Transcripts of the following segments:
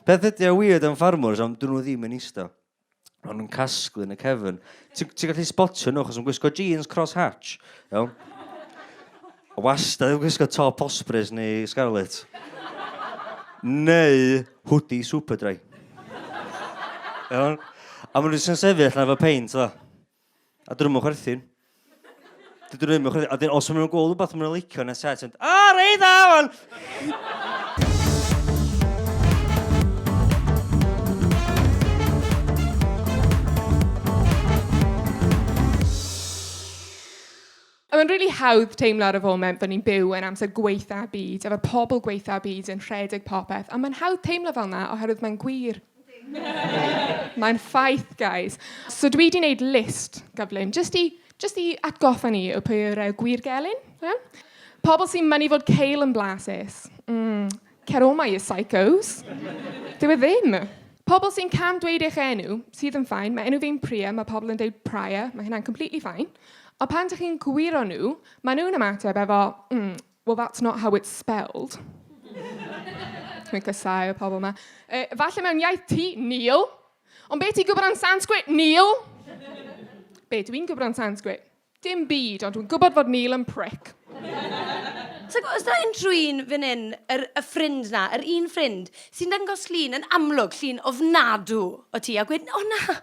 Peth ydy o weird am ffarmwrs am dyn nhw ddim yn eista. Ond yn casglu yn y cefn. Ti'n ti gallu spotio nhw achos yn gwisgo jeans cross hatch. Iawn? A wastad yn gwisgo top ospreys neu scarlet. Neu hwdi superdry. Iawn? A maen nhw'n sefyll na fo peint dda. A dyn nhw'n chwerthin. Dyn nhw'n mynd chwerthin. A dyn, os nhw'n gweld rhywbeth nhw'n licio yn y set, yn, o, rei dda, wan! A mae'n rili hawdd teimlo ar y foment bod ni'n byw yn amser gwaetha'r byd, efo'r pobl gwaetha'r byd yn rhedeg popeth, ond mae'n hawdd teimlo fel 'na oherwydd mae'n gwir. Mae'n ffaith, guys. So dwi 'di wneud list gyflym jyst i jyst i atgoffa ni o pwy yw'r yy gwir gelyn, Pobl sy'n mynnu fod Cale yn blasus. Mm. Cer o 'ma you psychos! Dyw e ddim! Pobl sy'n cam dweud eich enw, sydd yn fine, mae enw fi'n Priya, mae pobl yn dweud Prior, mae hynna'n completely fine, ond pan dych chi'n gwiro nhw, maen nhw'n ymateb efo mm, well that's not how it's spelled. Dwi'n casáu y pobl yma. E, falle mewn iaith ti, Neil. Ond be ti'n gwybod am Sanskrit, Neil? Be dwi'n gwybod am Sanskrit? Dim byd, ond dwi'n gwybod fod Neil yn prick. Ti'n gwybod, os da unrhyw un fan hyn, yr, y ffrind na, yr un ffrind, sy'n dangos llun yn amlwg, llun ofnadw o ti, a gwed, o na,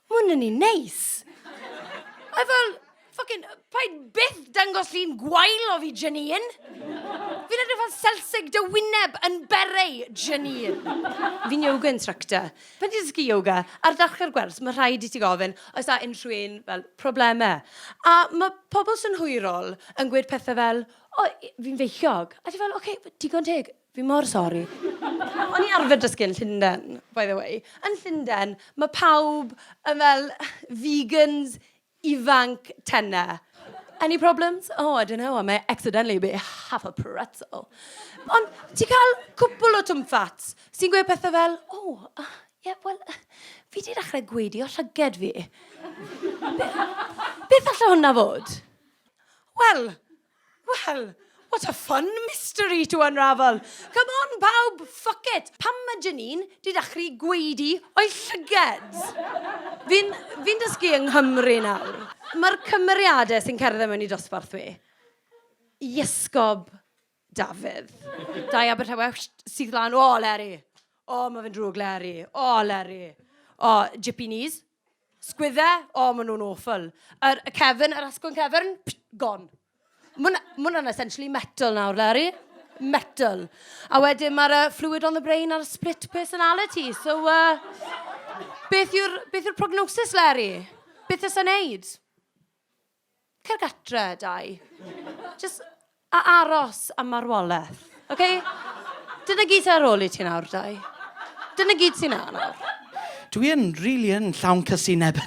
mae hwn yn un neis. A fel, ffocin, paid byth dangos llun gwael o fi, Janine. Fi'n edrych fel selsig dy wyneb yn berei, Janine. Fi'n yoga instructor. Pan ti'n dysgu yoga, ar ddechrau'r gwers, mae rhaid i ti gofyn oes â unrhyw un fel problemau. A mae pobl synhwyrol yn gweud pethau fel, o, fi'n feichiog. A ti fel, oce, digon teg, fi mor sori. O'n i arfer dysgu yn Llundain, by the way. Yn Llundain, mae pawb yn fel vegans, ifanc tenna. Any problems? Oh, I don't know, I may accidentally be half a pretzel. Ond ti'n cael cwpl o twmffats sy'n gweud pethau fel, oh, uh, yeah, well, uh, fi di dechrau gweidio llyged fi. Beth, beth allai hwnna fod? Wel, Wel, what a fun mystery to unravel! Come on, pawb, fuck it! Pam mae Janine 'di dachru gwaedu o'i llyged? Fi'n fi'n dysgu yng Nghymru nawr. Mae'r cymeriadau sy'n cerdded mewn i dosbarth fi. Iesgob Dafydd. Dai Abertawe syth lan, O Leri! O, mae fe'n drwg, Leri! O, Leri! O, jippy knees. Sgwydde, o maen nhw'n awful. Yr y cefn, yr asgwrn cefn, psh, gone. Mae hwnna'n essentially metal nawr, Larry. Metal. A wedyn mae'r uh, fluid on the brain a'r split personality. So, uh, beth yw'r yw prognosis, Larry? Beth ys yn neud? Cer gatre, Dai. Jyst a aros am marwolaeth, oce? Dyna gyd sy' ar ôl i ti nawr, Dai. Dyna gyd sy' 'na nawr. Dwi yn, rili yn, llawn casineb.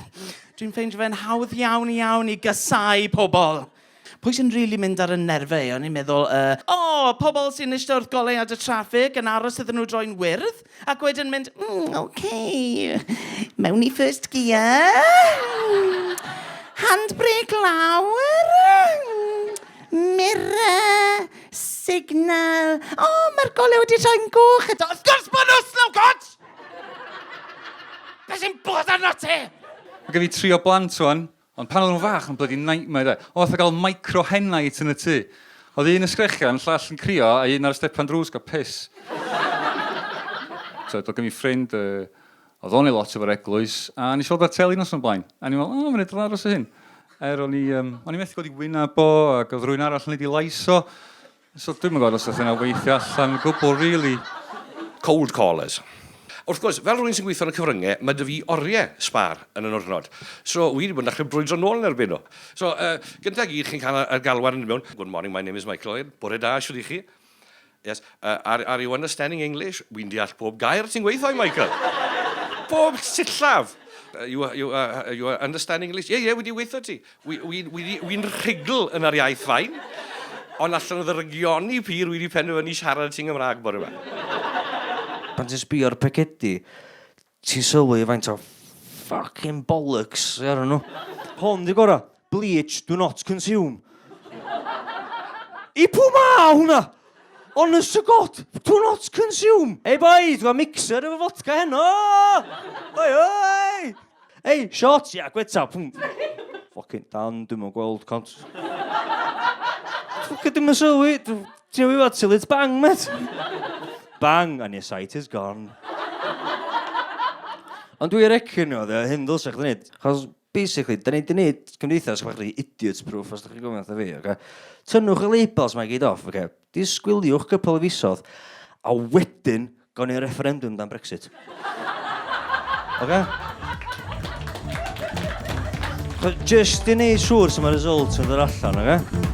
Dwi'n ffeindio fe'n hawdd iawn, iawn i gasáu pobl. Pwy sy'n rili mynd ar 'y nerfe i? O'n i'n meddwl, yy, o! Pobl sy'n ishte wrth goleuad y traffig, yn aros iddyn nhw droi'n wyrdd. Ac wedyn mynd, mm, ok, mewn i first gear, handbrake lawr, mirror, signal, o, oh, mae'r golau wedi rhoi'n goch eto. Wrth gwrs bod nhw, slow coach! Be sy'n bod arno ti? Mae gen i tri o blant o'n, Ond pan oedden nhw'n fach, yn blydi nightmare de. Oedd fatha gael micro hen night yn y tŷ. Oedd un yn sgrechian, llall yn crio, a un ar y stepan drws gael piss. so, oedd gen i ffrind, uh, oedd o'n ei lot efo'r eglwys, a nes i weld ar teli nos o'n blaen. A ni'n meddwl, o, mae'n edrych aros o hyn. Er o'n i, um, o'n i methu gweld i wyneb o, ac oedd rhywun arall yn ei di lais o. So dwi'm yn gwybod os oedd hynna weithio allan gwbl rili. Cold callers. Wrth gwrs, fel rhywun sy'n gweithio yn y cyfryngau, mae dy fi oriau sbar yn y nwrnod. So, wi wedi bod yn dechrau brwydro nôl yn erbyn nhw. So, uh, gyntaf gyd, chi'n cael y galwad yn mewn, Good morning, my name is Michael Owen. Bore da, siwr i chi. Yes, uh, are, are you understanding English? Wi'n deall pob gair ti'n gweithio, Michael. pob sillaf. Uh, you, you, uh, you understand English? Yeah, yeah, wedi weithio ti. Wi, wi, wi, wi, wi'n rhugl yn yr iaith fain, ond allan o ddyrygioni pur, wi wedi penderfynu siarad ti'n Gymraeg bore yma. Pan ti'n sbio ar pecedi, ti'n sylwi faint o fucking bollocks sy arnyn nhw. Hwn di gora. Bleach, do not consume. I pw ma hwnna? Honest to God, do not consume! Ei boys, mae mixer efo fodca heno! Oi, oi! Ei, shots, ia, gweta, pwng. Ffocin dan, dwi'n mwyn gweld cont. Ffocin dim yn sylwi, ti'n wyf at silit bang, met. Bang, and your sight is gone. Ond dwi'n recyn nhw, dda, hyn ddylsach chdi wneud. Chos Basically, da ni di wneud cymdeithas bach rhi idiot proof os da chi'n gofyn wrtho fi, oce? Tynnwch y labels mae gyd off, oce? Disgwyliwch cwpl o fisodd, a wedyn gawn ni'r referendum dan Brexit. Oce? Just i wneud siŵr sy'n mae result yn dod allan, oce?